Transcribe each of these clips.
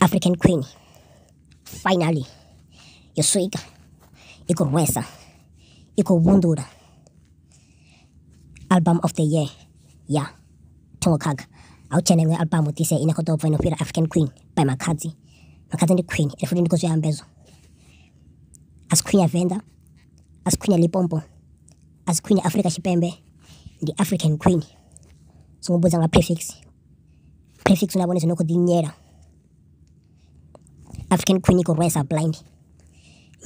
African Queen finally yo swika i khou rwesa i khou vhundula album of the year ya thongo khakha a u tshena iṅwe album ḓise ine khou ḓo bva ino fhira african queen by makhadzi makhadzi ndi queen ende futi ndi khou zwi ambezwa a si queen ya venḓa a si queen ya lipompo a si queen ya afrika tshipembe ndi african queen songo mbudza nga prefix Prefix na vhone zwi no kho ḓi inyela African Queen i khou rwesa blind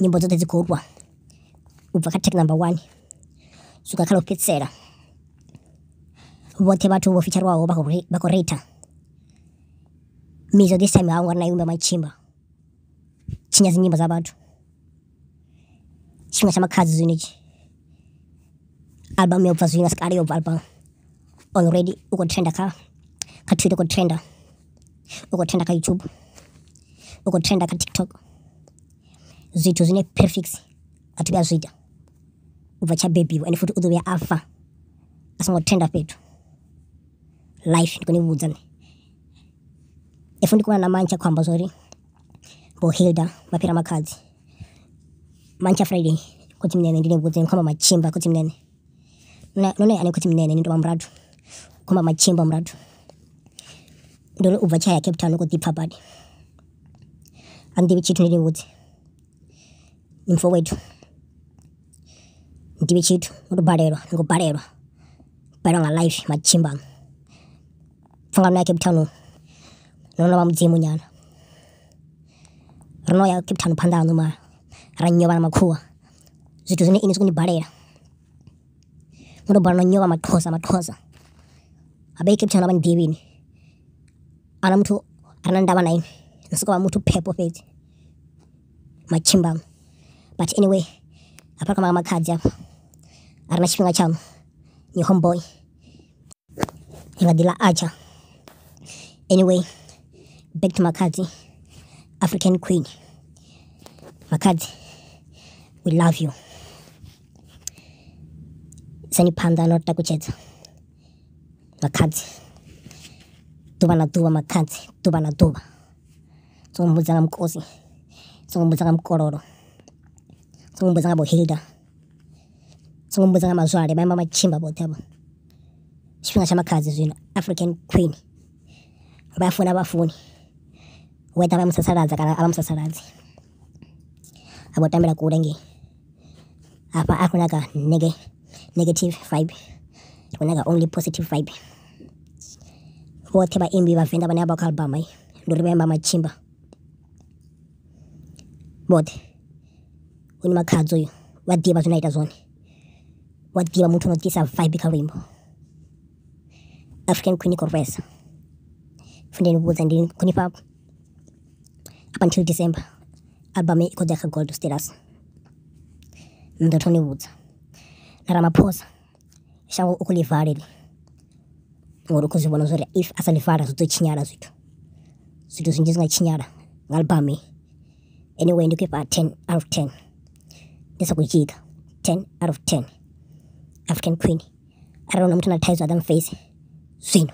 nyimbo dzoṱhe dzi khou rwa u bva kha track number one swika kha ḽo fhedzisela vhoṱhe vhathu vho fitshariwaho vha khou vha khou reitha mizo this time ha u nga ri na imba matshimba tshinya dzi nyimbo dza vhathu. Tshiṅwe tsha makhadzi zwino itshi album yo bva zwino asi kale yo bva album already u kho trenda kha kha Twitter u kho trenda u kho trenda kha YouTube u kho trenda kha TikTok zwithu zwine prefix a thi vhuya zwi ita u bva tsha bebiwa ende futhi u ḓo vhuya a fa a songo trenda fhethu life ndi kho ni vhudza nṋe if ndi kho vha na manzhi a khou amba zwori. Vho Hilda vha fhira Makhadzi. Mantsha Friday khotsimunene ndi ni vhudze ni khou amba matshimba khotsimunene. Na no ni ane khotsimunene ni tou vha murathu khou amba matshimba murathu. Ndi uri ubva tshi aya Cape Town u khou ḓi pfha badi. Ha ni ḓivhi tshithu ndi ni vhudze ni mufhe wethu. Ndibi tshithu ndi khou balelwa ndi khou balelwa ndi balelwa nga life matshimbi anga. Pfungani noya Cape Town no no novha mudzimu nyana ro noya Cape Town phanḓa haṋu mara ra nyewa na makhuwa zwithu zwine inwi zwi kho ni balela ndo to balelwa no nyewa maxhosa maxhosa habe Cape Town avha ni ḓivhi inwi ahuna muthu are na ndavha na inwi ni soko vha muthu phepho fhedzi. matshimba but anyway hafha kha makhadzi hafha a re na tshifhinga tsha ni home boy i nga ḓi ḽa archer anyway back to makhadzi african queen makhadzi we love you sani phanḓa na u takutshedza makhadzi ḓuvha na ḓuvha makhadzi ḓuvha na ḓuvha songo mbudza nga mukosi, songo mbudza nga mukololo, songo mbudza nga vho hilda, songo mbudza nga mazwale vha ima vha tshinga vhoṱhe avho. Ndi tshifhinga tsha makhadzi zwino African Queen vha funa vhafuni whether vha musasaladza kana a vha musasaladzi. a vho tambela kule ngei hafha a khou nyaga nege negative vibe ri khou nyaga only positive vibe vhoṱhe vhaimbi vhavenḓa vhane vha vha kha album ndi uri vha imba matshimba vhoṱhe u ni makhadzo uyu vha ḓivha zwine a ita zwone vha ḓivha muthu no ḓisa vibe kha luimbo african queen corvesa fundeni vhudza ndi khonifha up until December album i khou ḓa kha gold status ni ḓo thoma ni vhudza na Ramaphosa shango u khou ḽi vala heḽi ngori u khou zwi vhona zwori if a sa ḽi vala zwi ḓo tshinyala zwithu zwithu zwinzhi zwi nga tshinyala nga album anyway ndi khou ifha ten out of ten ndi sa khou dzhiga ten out of ten african queen arali huna muthu na thaidzo a ḓa mface zwino